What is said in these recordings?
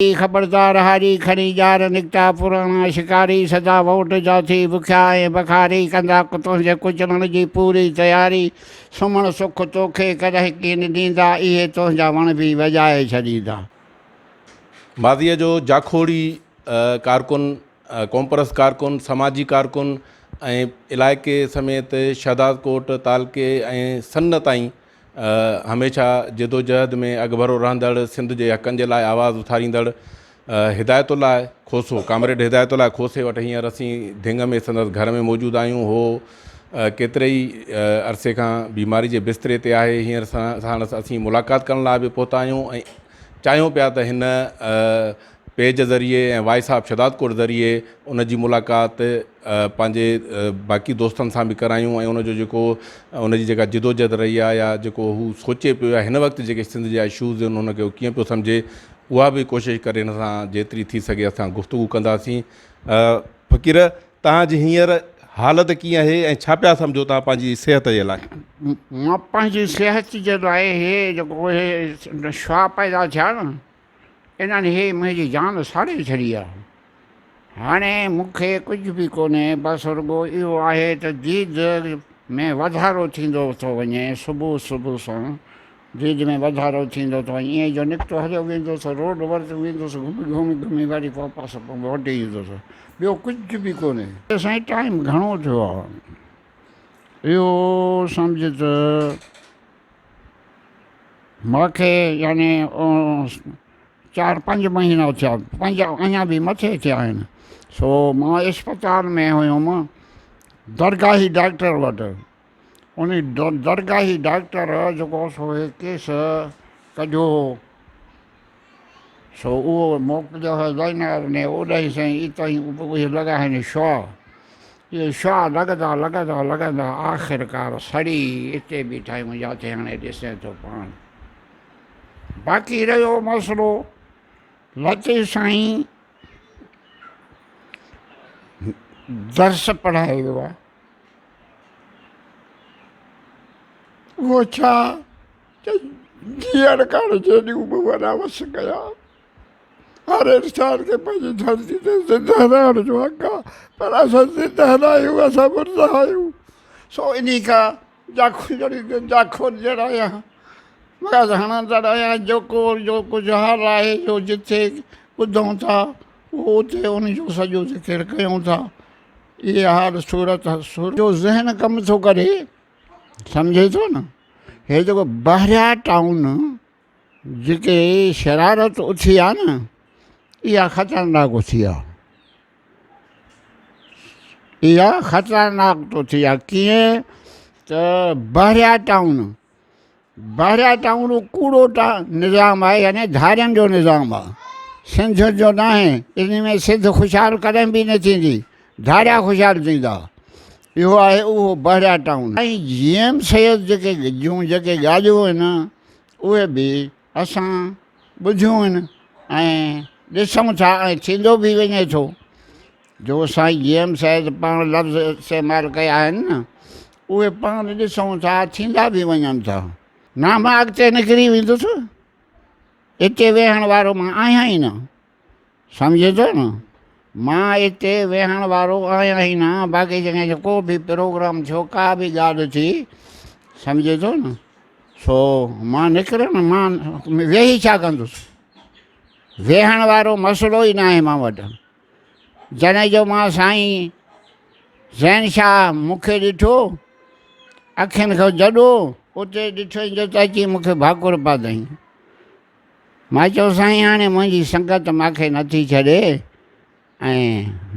ڪي خبردار هاري کڻي ڄار نڪتا پراڻا شڪاري سدا ووٽ جا ٿي بکيا ۽ بخاري ڪندا تنهنجي ڪچلڻ جي پوري تياري سمهڻ سک توکي ڪڏهن ڪين ڏيندا اهي تنهنجا وڻ به وڄائي ڇڏيندا. ماضيء جو جاکوڙي ڪارڪن، قومپرست ڪارڪن، سماجي ڪارڪن ۽ علائقي سميت شهدادڪوٽ تعلقي ۽ سن تائين هميشه جدوجهد ۾ اڳڀرو رهندڙ، سنڌ جي حقن جي لاء آواز اٿاريندڙ هدايت الله کوسو، ڪامريڊ هدايت الله کوسي وٽ هينئر اسين ڌڱ ۾ سندس گهر ۾ موجود آهيون. هو ڪيتري ئي عرصي کان بيماري جي بستري تي آهي. هينئر ساڻس اسين ملاقات ڪرڻ لاء به پهتا آهيون ۽ چاهيون پيا ته هن پيج ذريعي ۽ وائي صاحب شھدادڪوٽ ذريعي ان جي ملاقات پنھنجي باقي دوستن سان به ڪرايون ۽ ان جو جيڪو ان جي جيڪا جدوجھد رھي آھي يا جيڪو ھو سوچي پيو يا ھن وقت جيڪي سنڌ جا اشوز آھن ان کي ھو ڪيئن پيو سمجھي اھا به ڪوشش ڪري ھن سان جيتري ٿي سگھي اسان گفتگو ڪنداسين فقير توھان جي ھينئر حالت ڪيئن آھي ۽ ڇا پيا سمجھو توھان پنھنجي صحت جي لاء. مان پنھنجي صحت جي لاء ھي جيڪو ھي شھاھ پيدا ٿيا ن انهن هي منهنجي جان ساڙي ڇڏي آ. هاڻي مون کي ڪجهه به ڪونهي بس رڳو اهو آهي ته ديد ۾ وڌارو ٿيندو ٿو وڃي صبح صبح سان ديد ۾ وڌارو ٿيندو ٿو وڃي ائين جو نڪتو هليو ويندو ٿو روڊ ورت ويندو ٿو گهمي گهمي گهمي وري واپس موٽي ايندو ٿو ٻيو ڪجهه به ڪونهي. ته سائين ٽائيم گهڻو ٿيو آ اهو سمجهه ته. مونکي يعني چار پنج مهينا ٿيا پنج اڃا به مٿي ٿيا آهن سو مان اسپتال ۾ هيوم درگاهي ڊاڪٽر وٽ ان درگاهي ڊاڪٽر جيڪو سو هي ڪيس ڪڍيو هو سو اهو موڪ جو هي زينار ني اوڏهي سين اتهين اوپوهي لڳا هين شوا اهي شوا لڳندا لڳندا لڳندا آخر ڪار سڙي اتي بيٺايون جاٿي هاڻي ڏسين ٿو پاڻ باقي رهيو مسئلو لطيف سائين درس پڙهائي ويو آهي اهو ڇا ته جيئڻ ڪاڻ جيڏيون به وڏا وس ڪيا، هر انسان کي پنهنجي ڌرتي تي زنده رهڻ جو حق آ، پر اسان زنده نه آهيون، اسان مرده آهيون. سو انهي کان جاکو جهڙي ته جاکو جهڙا آهيان، وڳس هڻندڙ آهيان، جيڪو جو ڪجهه حال آهي، جو جتي ٻڌون ٿا، اهو اتي انهي جو سڄو ذڪر ڪيون ٿا. اهي حال صورت جو ذهن ڪم ٿو ڪري، سمجهي ٿو نه هي جيڪو بحريا ٽائون جيڪي شرارت اٿي آ نه اها خطرناڪ اٿي آ اها خطرناڪ تو ٿي آ ڪيئن ته بحريا ٽائون بحريا ٽائون اهو ڪوڙو نظام آهي يعني ڌارين جو نظام آهي سنڌين جو ناهي ان ۾ سنڌ خوشحال ڪڏهن به نه ٿيندي ڌاريا خوشحال ٿيندا اهو آهي اهو Bahria Town ۽ G M Syed جيڪي جون جيڪي ڳالهيون آهن اهي به اسان ٻڌيون آهن ۽ ڏسون ٿا ۽ ٿيندو به وڃي ٿو جو سائين جي ايم سيد پاڻ لفظ استعمال ڪيا آهن نه اهي پاڻ ڏسون ٿا ٿيندا به وڃن ٿا. نه مان اڳتي نڪري ويندس. اتي ويهڻ وارو مان آهيان ئي نه. سمجهين ٿو نه؟ مان اتي ويهڻ وارو آهيان ئي نه. باقي جيڪڏهن ڪو به پروگرام ٿيو، ڪا به ڳالهه ٿي، سمجهين ٿو نه؟ سو مان نڪرڻ، مان ويهي ڇا ڪندس؟ ويهڻ وارو مسئلو ئي ناهي مان وٽ. جنھن جو مان سائين زين شاھ مون کي ڏٺو اکين کان جڏو اتي ڏٺئين جو ته اچي مون کي ڀاڪر پاتئين. مان چيو سائين ھاڻي منھنجي سنگت مان کي نٿي ڇڏي ۽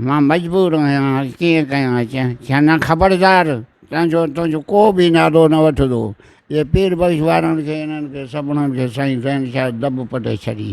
مان مجبور آھيان ڪيئن ڪيان چيائين خبردار تنھنجو تنھنجو ڪو به نالو نه وٺندو اھي پير بخش وارن کي انھن کي سڀنن کي سائين زين شاھ دٻ پٽي ڇڏي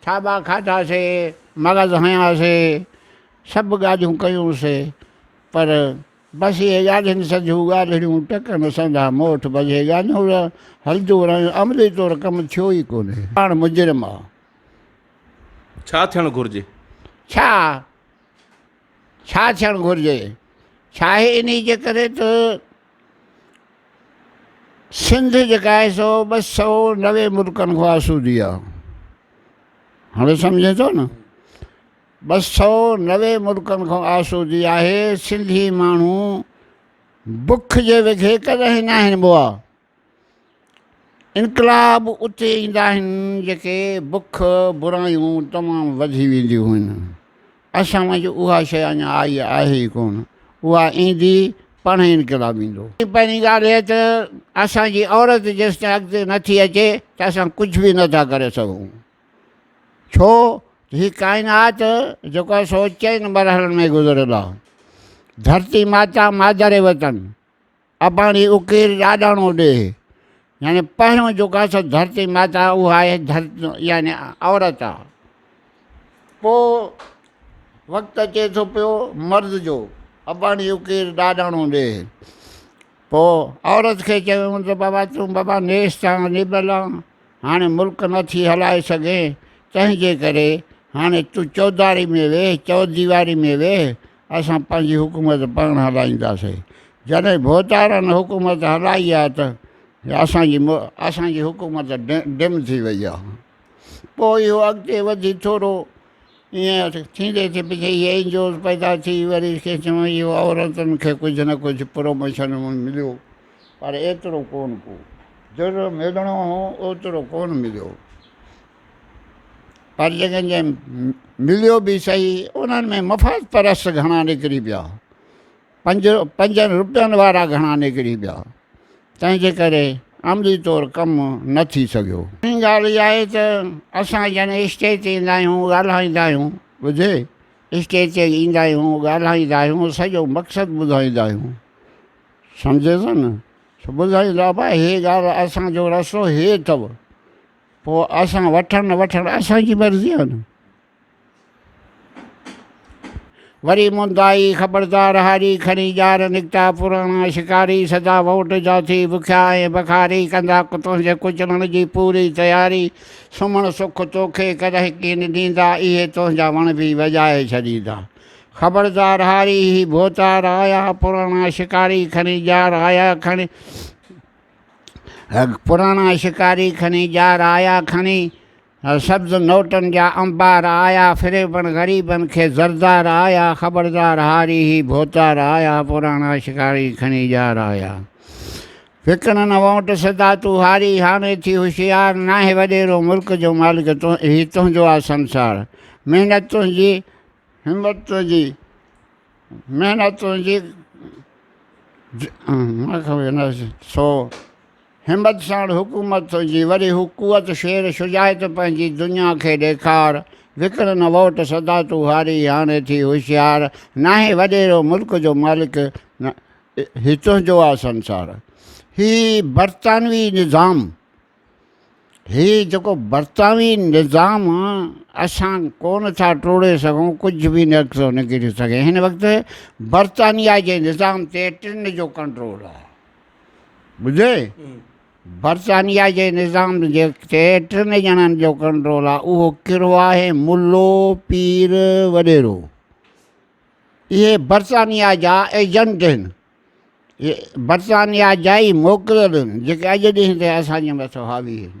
ٿاٻا کاڌاسي، مغز هنياسي، سڀ ڳالهيون ڪيونسي، پر بس اهي ڳالهين سنڌيون ڳالهڙيون ٽڪن سنڌا موٺ بجي ڳالهيون ته هلنديون رهيون، عملي طور ڪم ٿيو ئي ڪونهي. پاڻ مجرم آ. ڇا ٿيڻ گهرجي؟ ڇا؟ ڇا ٿيڻ گهرجي؟ ڇاهي انهي جي ڪري ته. سنڌ جيڪا آهي سو ٻه سؤ نوي ملڪن کان آسودي آهي هاڻي سمجهين ٿو نه ٻه سؤ نوي ملڪن کان آسودي آهي سنڌي ماڻهو بک جي وکي ڪڏهن ناهن بوا انقلاب اتي ايندا آهن جتي بک، برايون تمام وڌي وينديون هن. اسان وٽ اها شيء اڃا آئي آهي ئي ڪونه. اها ايندي، پڻهين انقلاب ايندو. پهرين ڳالهه هيء ته اسان جي عورت جيستائين اڳتي نه ٿي اچي ته اسان ڪجهه به نه ٿا ڪري سگهون. ڇو ته هي ڪائنات جيڪو آهي سو چئن مرحلن ۾ گذريل آهي. ڌرتي ماتا مادر وطن اباڻي اڪير ڏاڏاڻو ڏيهه يعني پهريون جيڪا سا ڌرتي ماتا اها آهي ڌرت يعني عورت آ پو وقت اچي ٿو پيو مرد جو اباڻي اڪير ڏاڏاڻو ڏيهه پو عورت کي چيون ته بابا تون بابا نيست آ نيبل آ هاڻي ملڪ نه ٿي هلائي سگهين تنهنجي ڪري هاڻي تون چوڌاري ۾ ويهه چوديواري ۾ ويهه اسان پنهنجي حڪومت پاڻ هلائينداسي جڏهن ڀوتارن حڪومت هلائي آهي ته اسان جي اسان جي حڪومت ڊم ٿي وئي آهي پوء اهو اڳتي وڌي ٿورو ائين ٿيندي ٿي پڇي هي اين جي اوز پيدا ٿي وري کي چون اهو عورتن کي ڪجهه نه ڪجهه پروموشن مليو پر ايترو ڪونه ڪو جيترو ملڻو هو اوترو ڪونه مليو پر جيڪن جي مليو به سهي انهن ۾ مفاد پرست گهڻا نڪري پيا پنج پنجن روپين وارا گهڻا نڪري پيا تنهن جي ڪري عملي طور ڪم نه ٿي سگهيو ٻي ڳالهه اها آهي ته اسان جن اسٽيج تي ايندا آهيون ڳالهائيندا آهيون ٻڌي اسٽيج تي ايندا آهيون ڳالهائيندا آهيون سڄو مقصد ٻڌائيندا آهيون سمجهي ٿو نه ٻڌائيندا ڀاء هي ڳالهه اسان جو رستو هي اٿو پوء اسان وٺڻ نه وٺڻ اسان جي مرضي آهي نه. وري مندائي خبردار هاري کڻي ڄار نڪتا پراڻا شڪاري سدا ووٽ جا ٿي بکيا ۽ بخاري ڪندا تنهنجي ڪچلڻ جي پوري تياري سمهڻ سک توکي ڪڏهن ڪين ڏيندا اهي تنهنجا وڻ به وڄائي ڇڏيندا خبردار هاري هي ڀوتار آيا پراڻا شڪاري کڻي ڄار آيا کڻي هڪ پراڻا شڪاري کڻي ڄار آيا کڻي سبز نوٽن جا انبار آيا فريبن غريبن کي زردار آيا خبردار هاري هي ڀوتار آيا پراڻا شڪاري کڻي ڄار آيا وڪڻن وونٽ سدا تو هاري هاڻي ٿي هوشيار ناهي وڏيرو ملڪ جو مالڪ تو هي تنهنجو آ سنسار محنت تنهنجي همت تنهنجي محنت تنهنجي سو همت ساڻ حڪومت تنهنجي وري هو قوت شير شجاعت پنهنجي دنيا کي ڏيکار وڪڻ نه ووٽ سدا تون هاري هاڻي ٿي هوشيار ناهين وڏيرو ملڪ جو مالڪ هي تنهنجو آ سنسار هي برطانوي نظام هي جيڪو برطانوي نظام اسان ڪونه ٿا ٽوڙي سگهون ڪجهه به نڪتو نڪري سگهي هن وقت برطانيا جي نظام تي ٽن جو ڪنٽرول آهي ٻڌي برطانيا جي نظام جي تي ٽن ڄڻن جو ڪنٽرول آهي اهو ڪهڙو آهي ملو پير وڏيرو اهي برطانيا جا ايجنٽ آهن برطانيا جا ئي موڪليل هن جيڪي اڄ ڏينهن تائين اسان جي مٿو حاوي آهن.